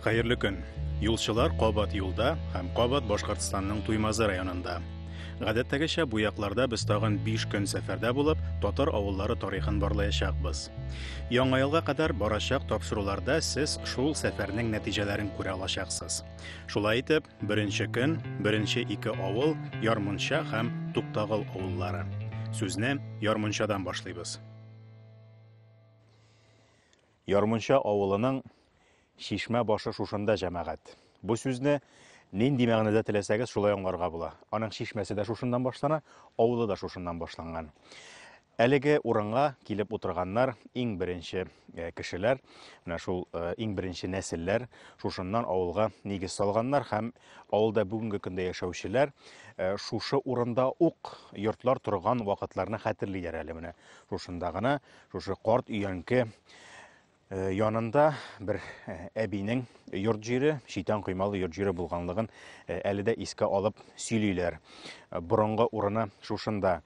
Хәерле көн. Юлчылар кабат юлда һәм кабат Башкортстанның Туймазы районында. Гадәттәгечә бу якларда без тагын 5 көн сәфәрдә булып, татар авыллары тарихын барлаячакбыз. Яңа елга кадәр барачак тапшыруларда сез шул сәфәрнең нәтиҗәләрен күрә алачаксыз. Шулай итеп, Беренче көн, беренче ике авыл, Ярмунча һәм Туктагыл авыллары. Сүзне Ярмунчадан башлыйбыз. Ярмунча авылының Шишмә башы шушында җәмәгать. Бу сүзне нинди мәгънәдә теләсәгез, шулай аңларга була. Аның шишмәсе дә шушыннан башлана, авылы да шушыннан башланган. Әлеге урынга килеп утырганнар иң беренче кешеләр, менә шул иң беренче нәселләр, шушыннан авылга нигез салганнар һәм авылда бүгенге көндә яшәүчеләр шушы урында ук йортлар торган вакытларны хәтерлиләр әле менә. Шушында гына, шушы карт өянке Э, янында бер э, әбинең йорт җире, шитан коймалы йорт җире булганлыгын э, әле дә искә алып сөйлиләр. Борынгы урыны шушында.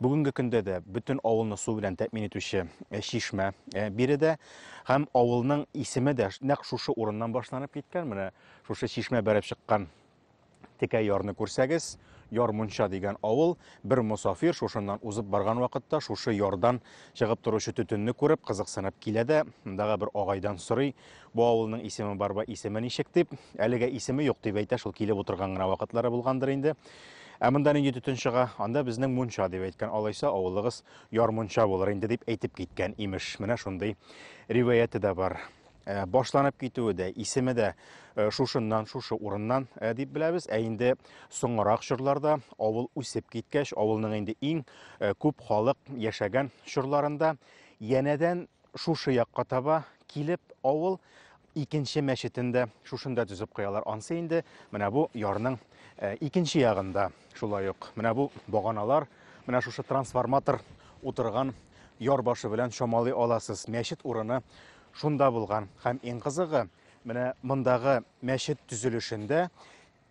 Бүгенге көндә дә бөтен авылны су белән тәэмин итүче чишмә биредә һәм авылның исеме дә нәкъ шушы урыннан башланып киткән. Менә шушы чишмә бәреп чыккан Текә ярны күрсәгез, Ярмунча дигән авыл, бер мосафир шушыннан узып барган вакытта шушы ярдан чыгып торучы төтенне күреп, кызыксынып килә дә, мондагы бер агайдан сорый, бу авылның исеме бар ба, исеме ничек дип. Әлегә исеме юк дип әйтә, шул килеп утырган гына вакытлары булгандыр инде. Ә монда нинди төтен чыга? Анда безнең мунча дип әйткән. Алайса авылыгыз Ярмунча булыр инде дип әйтеп киткән, имеш. Менә шундый риваяте дә бар. Э, башланып китүе дә исеме дә э, шушыннан шушы урыннан э, дип беләбез ә инде соңрак чорларда авыл үсеп киткәч авылның инде иң күп халык яшәгән чорларында янәдән шушы якка таба килеп авыл икенче мәчетен дә шушында төзеп куялар ансы инде менә бу ярның икенче ягында шулай ук менә бу баганалар менә шушы трансформатор утырган яр башы белән чамалый аласыз мәчет урыны Шунда булган һәм иң кызыгы, менә мондагы мәчет төзелешендә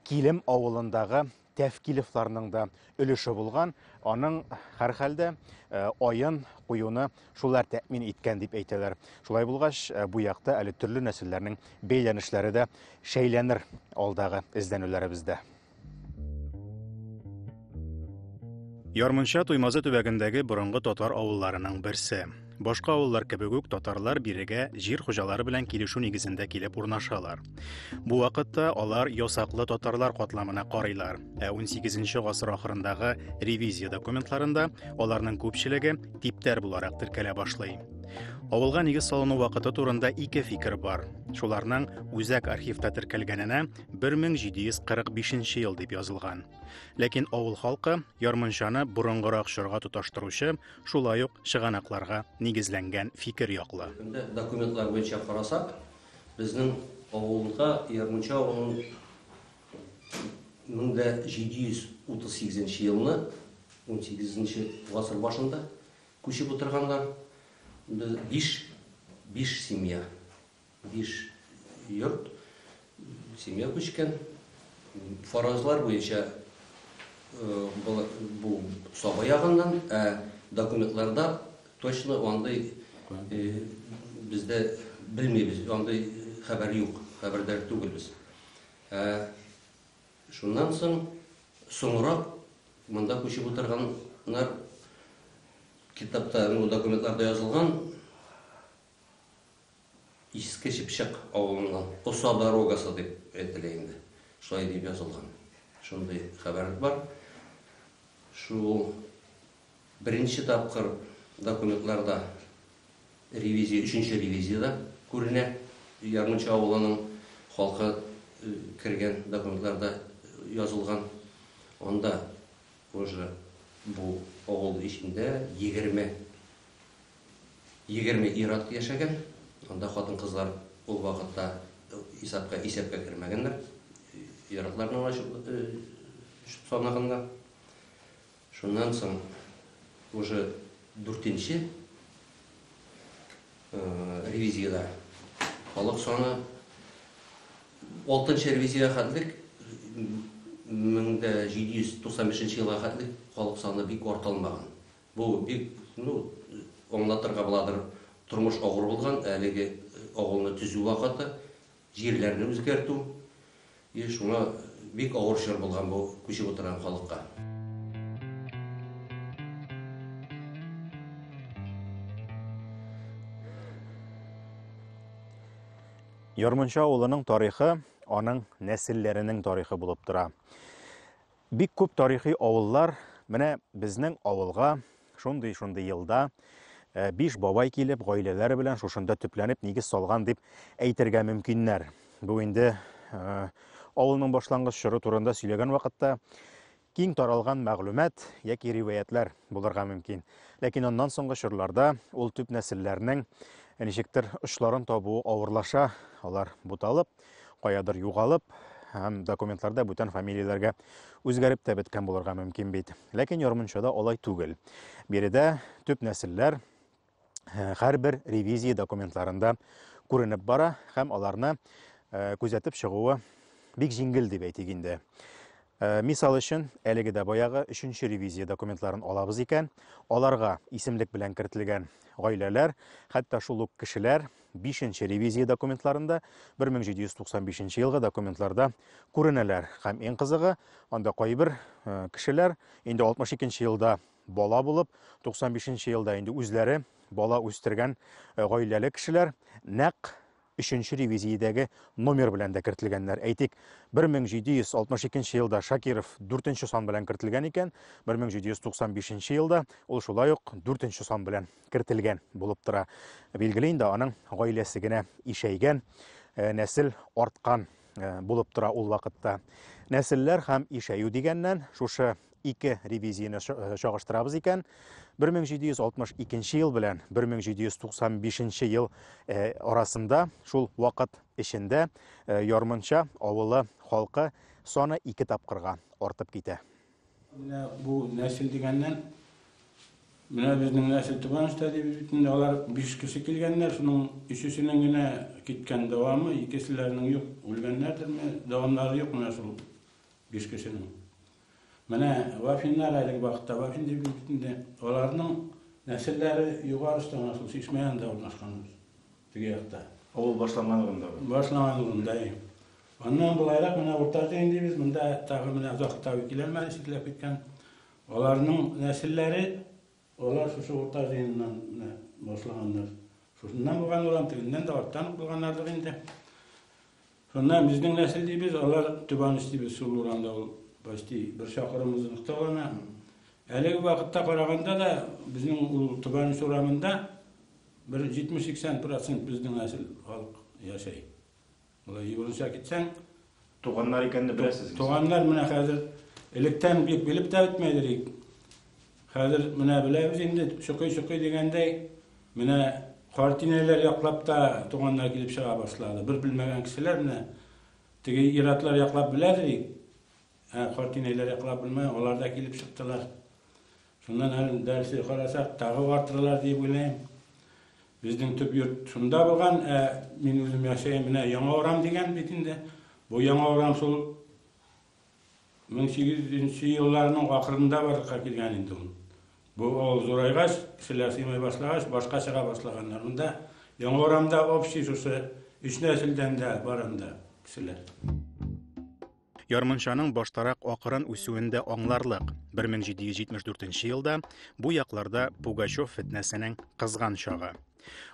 Килем авылындагы Тәфкилевларның да өлеше булган. Аның һәрхәлдә э, аен куюны шулар тәэмин иткән дип әйтәләр. Шулай булгач, э, бу якта әле төрле нәселләрнең бәйләнешләре дә шәйләнер алдагы эзләнүләребездә. Ярмунча Туймазы төбәгендәге борынгы татар авылларының берсе. Башка авыллар кебек үк татарлар бирегә җир хуҗалары белән килешү нигезендә килеп урнашалар. Бу вакытта алар ясаклы татарлар катламына карыйлар, ә 18 гасыр ахырындагы ревизия документларында аларның күпчелеге типтәр буларак теркәлә башлый. Авылга нигез салыну вакыты турында ике фикер бар. Шуларның үзәк архивта теркәлгәненә 1745 ел дип язылган. Ләкин авыл халкы ярмынчаны борынгырак чорга тоташтыручы, шулай ук чыганакларга нигезләнгән фикер яклы. Документлар буенча карасак, безнең авылда ярмынча авылын 1738 елны 18 гасыр башында күчеп утырганнар. Без 5 5 семья Биш йорт, семья күчкән. Фаразлар буенча бу саба ягыннан, ә документларда точно андый бездә белмибез, андый хәбәр юк, хәбәрдар түгелбез. Ә шуннан соң соңрак монда күчеп утырганнар китапта, документларда язылган, Иске Чыпчык авылына Оса дорогасы дип әйтелә инде. Шулай дип язылган. Шундый хәбәр бар. Шул беренче тапкыр документларда ревизия, өченче ревизияда күренә. Ярмуча авылының халкы кергән документларда язылган. Анда уже бу авыл эчендә егерме Егерме ир-ат яшәгән. Анда хатын-кызлар ул вакытта исәпкә исәпкә кермәгәннәр. Ир-атларны гына чү санаганнар. Шуннан соң уже дүртенче ревизиядә халык саны алтынчы ревизиягә хәтлек мең дә җиде йөз туксан бишенче елга хәтлек халык саны бик арта алмаган. Бу бик, ну, аңлатырга буладыр, тормыш авыр булган, әлеге авылны төзү вакыты, җирләрне үзгәртү, и шуңа бик авыр чор булган бу күчеп утырган халыкка. Ярмунча авылының тарихы аның нәселләренең тарихы булып тора. Бик күп тарихи авыллар менә безнең авылга шундый-шундый елда э, биш бабай килеп, гаиләләре белән шушында төпләнеп нигез салган дип әйтергә мөмкиннәр. Бу инде э, авылның башлангыч чоры турында сөйләгән вакытта киң таралган мәгълүмат яки риваятлар булырга мөмкин. Ләкин аннан соңгы чорларда ул төп нәселләрнең ничектер очларын табуы авырлаша, алар буталып, Каядыр югалып, һәм документларда бүтән фамилияләргә үзгәреп тә беткән булырга мөмкин бит. Ләкин ярмунчада алай түгел. Биредә төп нәселләр һәрбер ревизия документларында күренеп бара һәм аларны күзәтеп чыгуы бик җиңел дип әйтик инде. Э, мисал өчен, әлеге дә баягы өченче ревизия документларын алабыз икән, аларга исемлек белән кертелгән гаиләләр, хәтта шул ук кешеләр бишенче ревизия документларында 1795 елгы документларда күренәләр. Һәм иң кызыгы, анда кайбер э, кешеләр инде 62 елда бала булып, 95 елда инде үзләре бала үстергән э, гаиләле кешеләр нәкъ өченче ревизиядәге номер белән дә кертелгәннәр. Әйтик, 1762 елда Шакиров дүртенче сан белән кертелгән икән, 1795 елда ул шулай ук дүртенче сан белән кертелгән булып тора. Билгеле инде, аның гаиләсе генә ишәйгән, э, нәсел арткан э, булып тора ул вакытта. Нәселләр һәм ишәю дигәннән, шушы ике ревизияне чагыштырабыз икән, 1762 ел белән 1795 ел арасында шул вакыт эчендә Ярмынча авылы халкы саны ике тапкырга артып китә. Менә бу нәсел дигәннән, менә безнең нәсел туган эштә дибез бит инде. Алар биш кеше килгәннәр, шуның өчесенең генә киткән дәвамы, икеселәренең юк, үлгәннәрдерме, дәвамнары юк менә шул биш кешенең. Менә вафиннар әлеге вакытта, вафин дип бит инде, аларның нәселләре Югары Останга, шул чишмә янында урнашкан ул, теге якта. Авыл башланган урында бу. Башланган урында, әй. Аннан болайрак менә Урта Җәен дибез, монда тагы менә озак та килә алмады, читләп киткән. Аларның нәселләре Алар шушы урта җыеннан менә башлаганнар. Шушыннан булган урам, тегеннән дә арттан ук булганнардыр инде. Шуннан безнең нәсел дибез, алар Төбаныч дибез, шул урамда ул почти бер чакрым озынлыкта гына. Әлеге вакытта караганда да безнең ул Төбаныч урамында бер 70-80% безнең нәсел халык яшәй. Болай югыйсә китсәң, Туганнар икәнен дә беләсез инде. Туганнар менә хәзер электән бик белеп тә бетмәде идек. Хәзер менә беләбез инде, чокый-чокый дигәндәй, менә картинәләр яклап та туганнар килеп чыга башлады. Бер белмәгән кешеләр менә теге иратлар яклап беләдер идек. Ә картинәләр яклап белмәгән, алар да килеп чыктылар. Шуннан әле дәресе карасак, тагы артырылар дип уйлыйм. Безнең төп йорт шунда булган, ә мин үзем яшәем менә Яңа Урам дигән бит инде. Бу Яңа Урам шул 1800 елларның ахырында барлыкка килгән инде ул. Бу авыл зурайгач, кешеләр сыймай башлагач, башка чыга башлаганнар. Монда Яңа Урамда общий шушы өч нәселдән дә бар анда кешеләр. Ярмынчаның баштарак акырын үсүен дә аңларлык. 1774 елда бу якларда Пугачев фетнәсенең кызган чагы.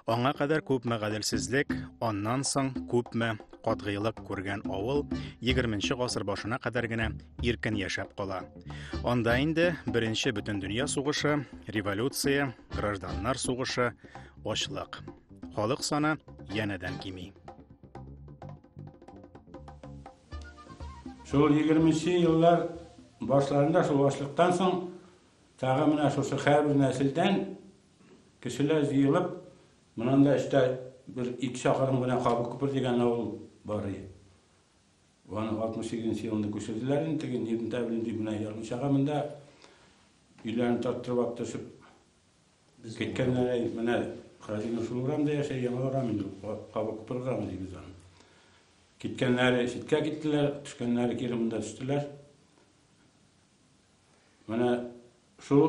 Аңа кадәр күпме гаделсезлек, аннан соң күпме катгыйлык күргән авыл 20 гасыр башына кадәр генә иркен яшәп кала. Анда инде беренче бөтен дөнья сугышы, революция, гражданнар сугышы, ачлык. Халык саны янәдән кими. Шул 20 еллар башларында шул ашлыктан соң тагы менә шушы хәрбер нәселдән кешеләр җыелып, монанда эштә бер ике чакырым гына Кабы күпер дигән авыл бар иде. Аны 68 елында күчерделәр инде, теге Нирнтәбелен дип менә ярмычага монда өйләрен тарттырып төшеп Киткән әй, менә Хәзинә шул урамда яшәй, яңа урам инде, кабы күпер урамы дибез аны. Киткәннәре читкә киттеләр, төшкәннәре кире монда төштеләр. Менә шул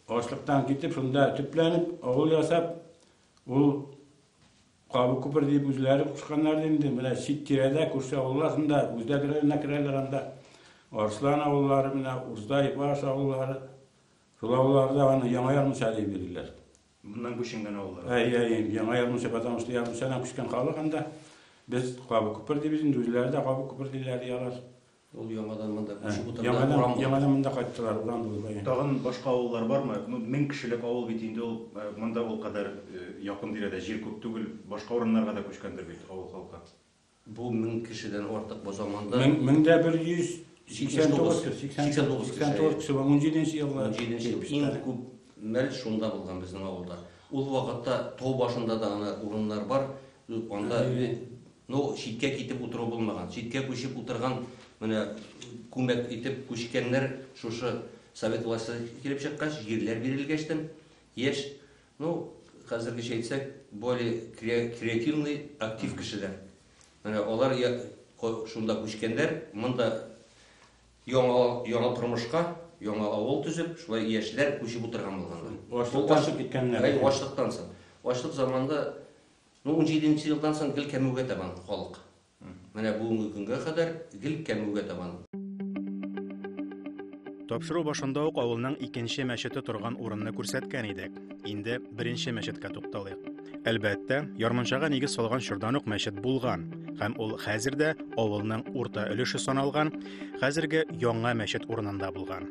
ашлыктан китеп, шунда төпләнеп, авыл ясап, ул кабы күпер дип үзләре кушканнар инде, менә чит тирәдә, күрше авыллар шунда, үзләр керәләр, керәләр анда. Арслан авыллары, менә Урзай, Баш авыллары, Шул авылларда аны яңа язмыша дип йөриләр. Моннан күченгән авыллар. Әй, әй, яңа язмыша, потому что язмышадан күчкән халык анда. Без Кабы күпер дибез инде, үзләре дә Кабы күпер диләр, ди алар. Ул яңадан монда күчеп утырды. Яңадан, яңадан монда кайттылар, урам булып. Әй. Тагын башка авыллар бармы? Ну, мең кешелек авыл бит инде ул, монда ул кадәр якын тирәдә җир күп түгел. Башка урыннарга да күчкәндер бит авыл халкы. Бу мең кешедән артык бу заманда. Мең, мең дә бер йөз сиксән тугыз кеше. Сиксән тугыз кеше. Сиксән тугыз кеше. Унҗиденче елгы. Унҗиденче ел. Иң күп мәл шунда булган безнең авылда. Ул вакытта тау башында да гына урыннар бар. Анда ну читкә китеп утыру булмаган. Читкә күчеп утырган менә күмәк итеп күчкәннәр шушы совет власте килеп чыккач, җирләр бирелгәчтен яшь Ну, хәзергечә әйтсәк, более креативный, актив кешеләр. Менә алар шунда күчкәннәр, монда яңа, яңа тормышка, яңа авыл төзеп, шулай яшьләр күчеп утырган булганнар. Ачлыктан чыгып киткәннәр. Әй, ачлыктан соң. Ачлык заманында, ну, 17 нче елдан соң гел кәмүгә табан халык. Менә бүгенге көнгә кадәр гел кәмүгә табан. Тапшыру башында ук авылның икенче мәчете торган урынны күрсәткән идек. Инде беренче мәчеткә тукталыйк. Әлбәттә, ярмунчага нигез салган чордан ук мәчет булган, һәм ул хәзер дә авылның урта өлеше саналган, хәзерге яңа мәчет урынында булган.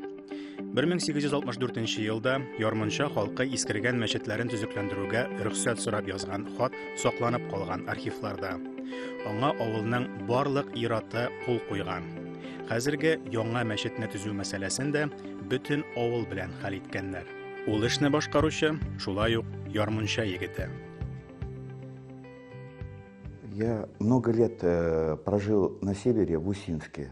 1864 елда Ярмонча халкы искергән мәчетләрен төзекләндерүгә рөхсәт сорап язган хат сакланып калган архивларда. Аңа авылның барлык ираты кул куйган. Хәзерге яңа мәчетне төзү мәсьәләсен дә бөтен авыл белән хәл иткәннәр. Ул эшне башкаручы шулай ук Ярмунча егете. Я много лет э, прожил на севере в Усинске.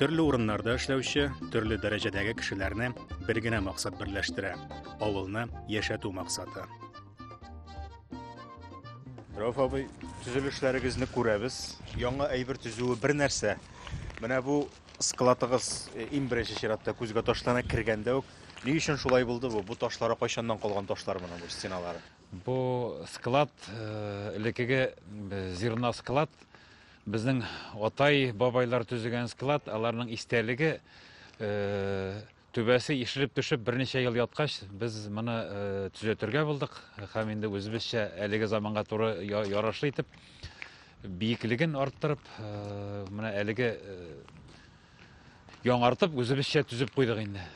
Төрле урыннарда эшләүче, төрле дәрәҗәдәге кешеләрне бер генә максат берләштерә, авылны яшәтү максаты. Рәүф абый, төзелешләрегезне күрәбез. Яңа әйбер төзүе бер нәрсә. Менә бу складыгыз э, иң беренче чиратта күзгә ташлана кергәндә үк. Ни өчен шулай булды бу? Бу ташлары кайчаннан калган ташлар менә бу стеналары. Бу склад э, элекеге э, зерно склад Безнең атай, бабайлар төзегән склад, аларның истәлеге түбәсе ишелеп төшеп берничә ел яткач без моны төзәтергә булдык һәм инде үзебезчә әлеге заманга туры ярашлы итеп биеклеген арттырып менә әлеге яңартып үзебезчә төзеп куйдык инде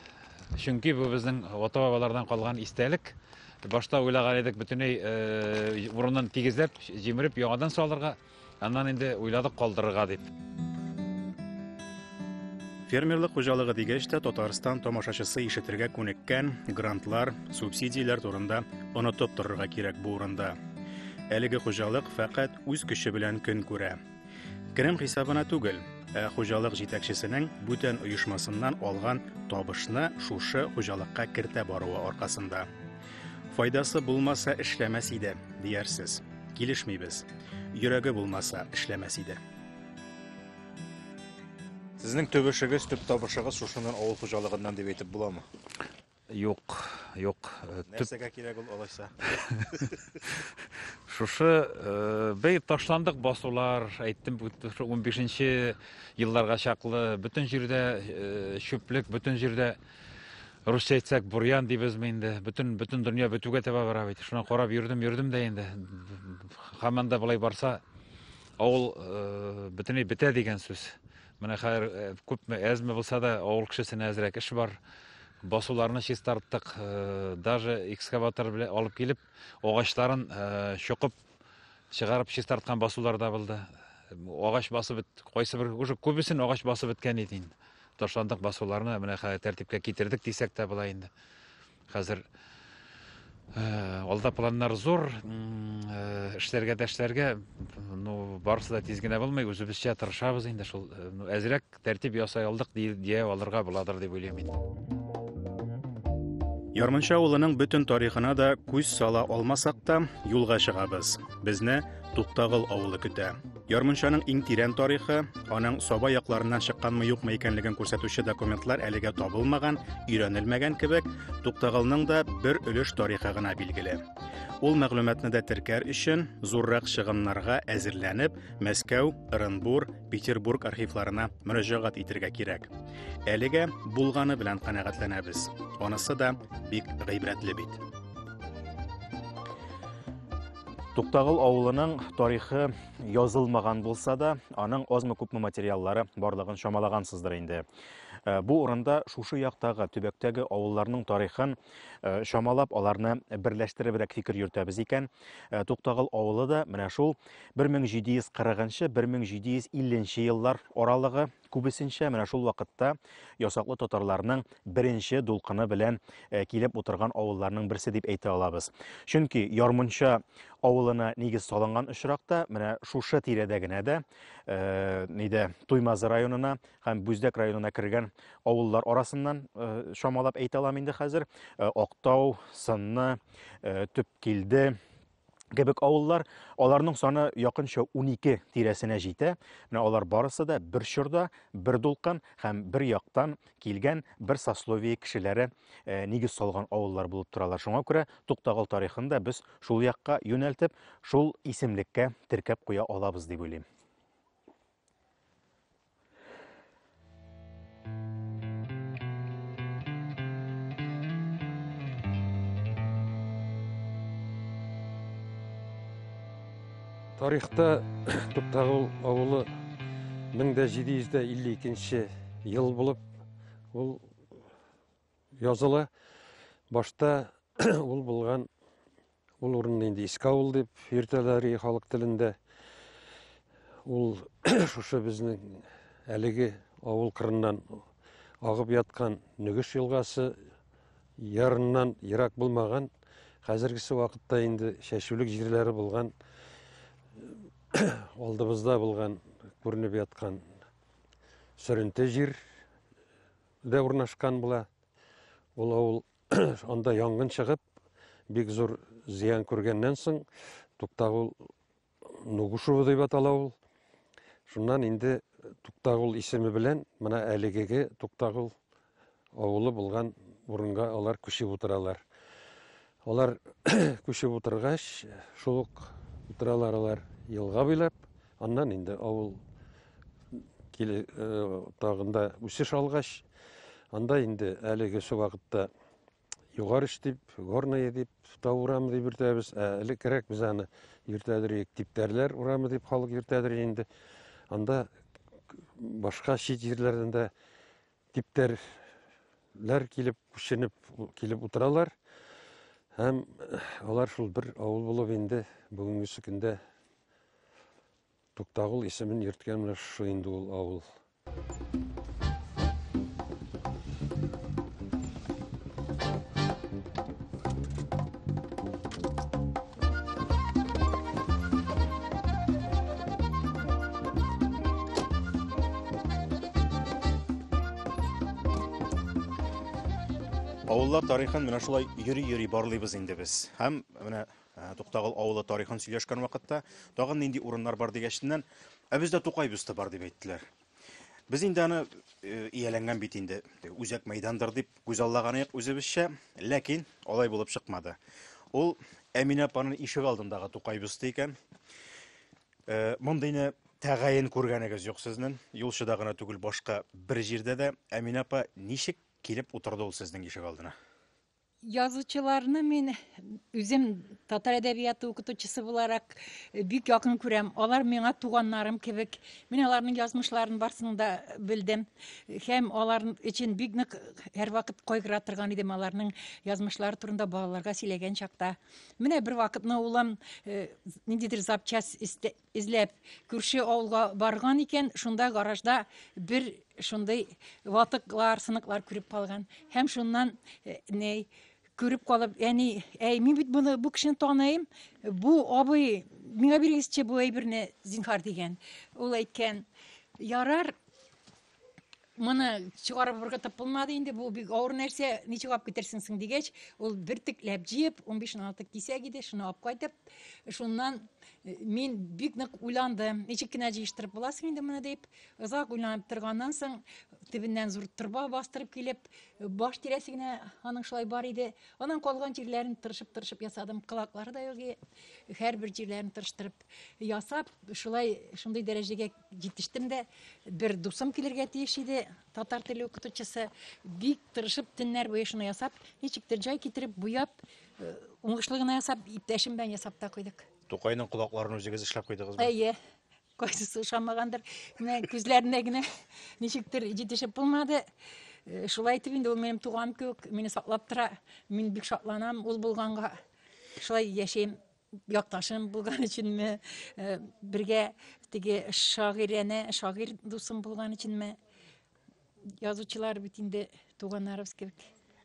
чөнки бу безнең ата бабалардан калган истәлек башта уйлаган идек бөтенләй урынын тигезләп җимереп яңадан салырга Аннан инде уйладык калдырырга дип. Фермерлык хуҗалыгы дигәч тә Татарстан тамашачысы ишетергә күнеккән грантлар, субсидияләр турында онытып торырга кирәк бу урында. Әлеге хуҗалык фәкать үз көче белән көн күрә. Керем хисабына түгел, ә хуҗалык җитәкчесенең бүтән оешмасыннан алган табышны шушы хуҗалыкка кертә баруы аркасында. Файдасы булмаса эшләмәс иде, диярсез. Килешмибез. Йөрәге булмаса эшләмәс иде. Сезнең төп эшегез, төп табышыгыз шушыннан авыл хуҗалыгыннан дип әйтеп буламы? Юк, юк. Э, Нәрсәгә кирәк ул алайса? Шушы э, бер ташландык басулар, әйттем, 15 елларга чаклы бөтен җирдә э, чүплек, бөтен җирдә Русча әйтсәк, бурьян дибезме инде. Бөтен бөтен дөнья бетүгә таба бара бит. Шуны карап йөрдем, йөрдем дә инде. Хаманда болай барса, авыл э, бөтенләй бетә дигән сүз. Менә хәзер э, күпме әзме булса да авыл кешесенә әзрәк эш бар. Басуларны чистарттык, э, даже экскаватор белән алып килеп, агачларын чокып, чыгарып чистарткан басулар да булды. Агач басып бит, кайсы бер уже күбесен агач басып беткән иде инде. Ташландык басуларны менә хәзер тәртипкә китердек дисәк тә була инде. Хәзер Э, алда планнар зур э, эшләргә дәшләргә ну барысы да тиз генә булмый үзебезчә тырышабыз инде шул э, ну әзрәк Тәртип ясай алдык дия алырга буладыр дип уйлыйм мин. Ярмынча авылының бөтен тарихына да күз сала алмасак та, юлга чыгабыз. Безне Туктагыл авылы көтә. Ярмунчаның иң тирән тарихы, аның Саба якларыннан чыкканмы юкмы икәнлеген күрсәтүче документлар әлегә табылмаган, өйрәнелмәгән кебек, Туктагылның да бер өлеш тарихы гына билгеле. Ул мәгълүматны да теркәр өчен, зуррак чыгымнарга әзерләнеп, Мәскәү, Ырынбур, Петербург архивларына мөрәҗәгать итергә кирәк. Әлегә булганы белән канәгатьләнәбез. Анысы да бик гыйбрәтле бит. Туктагыл авылының тарихы язылмаган булса да, аның азмы күпме материаллары барлыгын чамалагансыздыр инде. Э, бу урында шушы яктагы төбәктәге авылларның тарихын э, чамалап аларны берләштеребрәк фикер йөртәбез икән э, туктагыл авылы да менә шул 1740-1750 еллар аралыгы күбесенчә менә шул вакытта ясаклы татарларның беренче дулкыны белән э, килеп утырган авылларның берсе дип әйтә алабыз. Чөнки Ярмунча авылына нигез салынган очракта менә шушы тирәдә генә дә э, нидә Туймазы районына һәм Бүздәк районына кергән авыллар арасыннан э, шамалап әйтә алам инде хәзер. Э, Актау, Сынны, э, Төпкилде, кебек авыллар, аларның саны якынча 12 тирәсенә җитә. Менә алар барысы да бер чорда, бер дулкын һәм бер яктан килгән бер сословие кешеләре э, нигез салган авыллар булып торалар. Шуңа күрә Туктагыл тарихын да без шул якка юнәлтеп, шул исемлеккә теркәп куя алабыз дип уйлыйм. тарихта топтағыл ауылы 1752 ел болып ол языла. Башта ул булган ул урынны инде Искаул дип йөртәләр и халык телендә. Ул шушы безнең әлеге авыл кырыннан агып яткан Нөгеш елгасы ярыннан ерак булмаган, хәзергесе вакытта инде чәчүлек җирләре булган алдыбызда булган күренеп яткан сөренте җир дә урнашкан була. Ул авыл анда янгын чыгып, бик зур зыян күргәннән соң, Туктагул Нугушево дип атала ул. Шуннан инде Туктагул исеме белән менә әлегеге Туктагул авылы булган урынга алар күчеп утыралар. Алар күчеп утыргач, шул ук утыралар алар елга буйлап, аннан инде авыл киле тагында үсеш алгач, анда инде әлеге шул вакытта югарыш дип, горные дип, тау урамы дип йөртәбез, ә элеккерәк без аны йөртәдер идек, типтәрләр урамы дип халык йөртәдер инде. Анда башка чит җирләрдән дә Типтәрләр килеп, күченеп килеп утыралар. Һәм алар шул бер авыл булып инде бүгенге көндә Туктагул исемен йөрткән менә шушы инде ул авыл. Авыллар тарихын менә шулай йөри-йөри барлыйбыз инде без. Һәм менә э, Туктагыл авылы тарихын сөйләшкән вакытта тагын нинди урыннар бар дигәчтеннән, ә бездә Тукай бюсты бар дип әйттеләр. Без инде аны э, ияләнгән бит инде, үзәк мәйдандыр дип күзаллаган идек үзебезчә, ләкин алай булып чыкмады. Ул Әминә апаның ишек алдындагы тукай бюсты икән. Э, Мондыйны тәгаен күргәнегез юк сезнең. Юлчыда гына түгел, башка бер җирдә дә. Әминә апа ничек килеп утырды ул сезнең ишек алдына? Язучыларны мин үзем татар әдәбияты укытучысы буларак э, бик якын күрәм. Алар миңа туганнарым кебек. Мин аларның язмышларын барсын да белдем. Һәм алар өчен бик нык һәрвакыт кайгыра торган идем аларның язмышлары турында балаларга сөйләгән чакта. Менә бер вакытны улым э, ниндидер запчасть Эзләп күрше авылга барган икән, шунда гаражда бер шундый ватыклар, сыныклар күреп калган. Һәм шуннан э, ней күреп калып, әни, әй, мин бит буны бу кешене таныйм. Бу абый миңа бирегезче бу әйберне, зинхар дигән. Ул әйткән, ярар, Моны чыгарып ыргытып булмады инде, бу бик авыр нәрсә, ничек алып китерсең соң дигәч, ул бертекләп җыеп, 15-16 кисәк иде, шуны алып кайтып, шуннан э, мин бик нык уйландым, ничек кенә җыештырып буласың инде моны дип, озак уйланып торганнан соң, төбеннән зур торба бастырып килеп, баш тирәсе генә аның шулай бар иде. Аннан калган җирләрен тырышып-тырышып ясадым, колаклары да юк, һәрбер җирләрен тырыштырып ясап, шулай шундый дәрәҗәгә Җитештем дә, бер дусым килергә тиеш иде, татар теле укытучысы. Бик тырышып, төннәр буе шуны ясап, ничек тә җай китереп, буяп, э, уңышлы гына ясап, иптәшем белән ясап та куйдык. Тукайның колакларын үзегез эшләп куйдыгызмы? Әйе, кайсысы ошамагандыр, менә күзләренә генә ничектер җитешеп булмады. Э, Шулай итеп инде ул минем туган кебек, мине саклап тора. Мин бик шатланам ул булганга. Шулай яшәйм. якташым булган өченме, э, бергә теге шагыйрәне, шагыйрь дусым булган өченме? Язучылар бит инде туганнарыбыз кебек.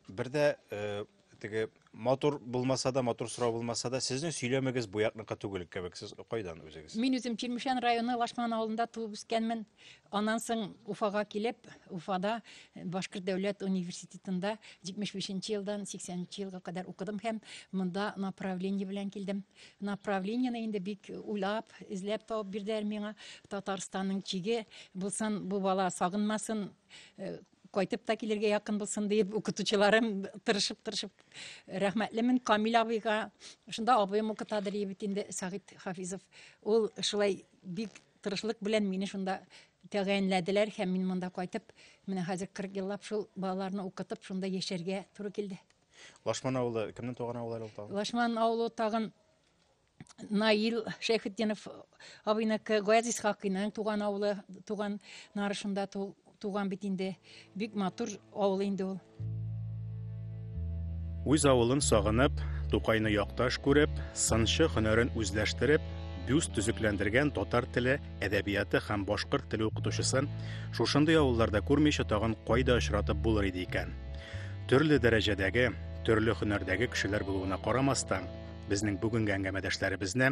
Бер дә э, теге матур булмаса да, матур сорау булмаса да, сезнең сөйләмегез буякныкы түгел кебек. Сез кайдан үзегез? Мин үзем Чирмешән районы Лашман авылында туып үскәнмен. Аннан соң Уфага килеп, Уфада Башкорт дәүләт университетында 75 нче елдан 80 нче елга кадәр укыдым һәм монда направление белән килдем. Направлениене инде бик уйлап, эзләп табып бирделәр миңа. Татарстанның чиге булсын, бу бала сагынмасын, э, кайтып та килергә якын булсын диеп, укытучыларым тырышып-тырышып рәхмәтлемен Камил абыйга. Шунда абыем укыта Дриевит инде Сагит Хафизов. Ул шулай бик Тырышлык белән мине шунда тәгаенләделәр һәм мин монда кайтып, менә хәзер 40 еллап шул балаларны укытып, шунда яшәргә туры килде. Лашман авылы кемнең туган авылы әле ул тагын? Лашман авылы тагын Наил Шәйхетдинов абыйныкы Гаяз Исхакыйның туган авылы, туган нарышында Туган бит инде. Бик матур авыл инде ул. Үз авылын сагынып, Тукайны якташ күреп, сынчы һөнәрен үзләштереп, бюст төзекләндергән татар теле, әдәбияты һәм башкорт теле укытучысын шушындый авылларда күрмичә тагын кайда очратып булыр иде икән? Төрле дәрәҗәдәге, төрле һөнәрдәге кешеләр булуына карамастан, безнең бүгенге әңгәмәдәшләребезне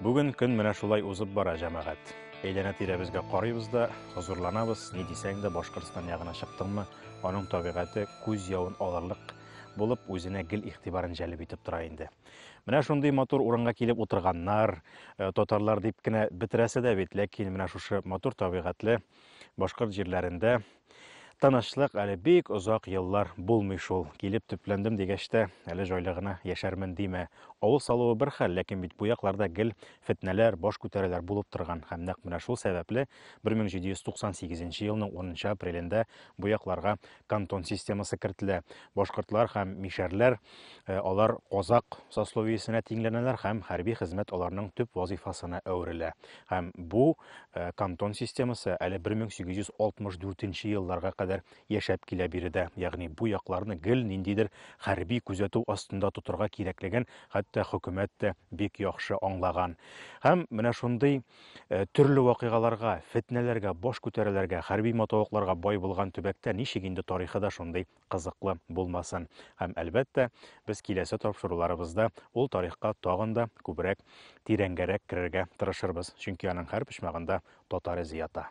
Бүген көн менә шулай узып бара, җәмәгать. Әйләнә тирәбезгә карыйбыз да, хозурланабыз, ни дисәң дә Башкортстан ягына чыктыңмы, аның табигате күз явын алырлык булып үзенә гел игътибарын җәлеп итеп тора инде. Менә шундый матур урынга килеп утырганнар, э, татарлар дип кенә бетерәсе дә бит, ләкин менә шушы матур табигатьле, Башкорт җирләрендә тынычлык әле бик озак еллар булмый шул. Килеп төпләндем дигәч тә, әле җайлы гына яшәрмен димә. Авыл салуы бер хәл, ләкин бит бу якларда гел фетнәләр, баш күтәрәләр булып торган. Һәм нәкъ менә шул сәбәпле 1798 елның 10 апрелендә бу якларга кантон системасы кертелә. Башкортлар һәм мишәрләр, э, алар казак сословиесенә тиңләнәләр һәм хәрби хезмәт аларның төп вазифасына әверелә. Һәм бу э, кантон системасы әле 1864 елларга кадәр яшәп килә биредә. Ягъни бу якларны гел ниндидер хәрби күзәтү астында тотырга кирәклеген хәтта хөкүмәт тә бик яхшы аңлаган. Һәм менә шундый Э, төрле вакыйгаларга, фетнәләргә, баш күтәрәләргә, хәрби матавыкларга бай булган төбәктә ничек инде тарихы да шундый кызыклы булмасын. Һәм әлбәттә, без киләсе тапшыруларыбызда ул тарихка тагын да күбрәк тирәнгәрәк керергә тырышырбыз, чөнки аның һәр почмагында татар эзе ята.